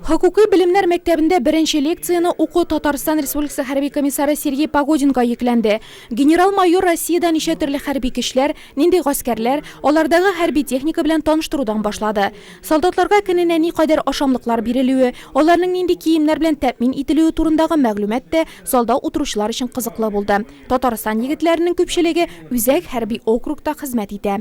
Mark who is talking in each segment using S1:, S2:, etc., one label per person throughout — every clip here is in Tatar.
S1: Хокукый белемнәр мәктәбендә беренче лекцияне уку Татарстан Республикасы хәрби комиссары Сергей Погодинга йөкләнде. Генерал-майор Россиядә ничә төрле хәрби көчләр, нинди гаскәрләр, алардагы хәрби техника белән таныштырудан башлады. Солдатларга көненә никадәр ашамлыклар бирелүе, аларның нинди киемнәр белән тәэмин ителүе турындагы мәгълүмат тә залда утыручылар өчен кызыклы булды. Татарстан егетләренең күпчелеге үзәк хәрби округта хезмәт итә.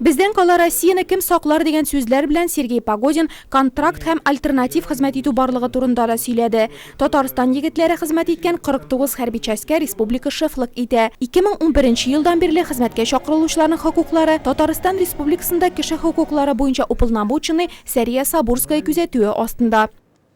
S2: Бездән
S1: кала Россияне кем саклар дигән сүзләр белән Сергей Погодин контракт һәм альтернатив хезмәт итү барлыгы турында да сөйләде. Татарстан егетләре хезмәт иткән 49 хәрби частькә республика шефлык итә. 2011 елдан бирле хезмәткә чакырылучыларның хокуклары Татарстан Республикасында кеше хокуклары буенча уполномоченный Сәрия Сабурская күзәтүе астында.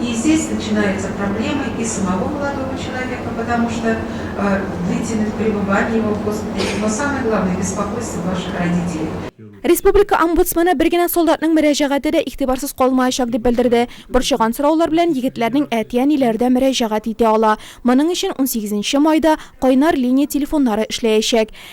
S3: и здесь начинаются проблемы и самого молодого человека потому что э длительных пребывание его в госпитале но самое главное беспокойство ваших родителей. Республика
S1: омбудсмены бер генә солдатның мөрәҗәгате дә игътибарсыз калмаячак дип белдерде. Борчыган сораулар белән егетләрнең әти-әниләре дә мөрәҗәгать итә ала. Моның өчен унсигезенче майда кайнар линия телефоннары эшләячәк.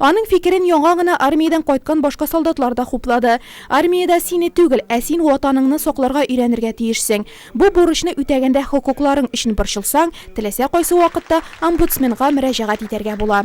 S4: Аның
S1: фикерен яңа гына армиядән кайткан башка солдатлар да хуплады. Армиядә сине түгел, ә син Ватаныңны сакларга өйрәнергә тиешсең. Бу бурычны үтәгәндә хокукларың өчен борчылсаң, теләсә кайсы вакытта омбудсменга мөрәҗәгать итәргә була.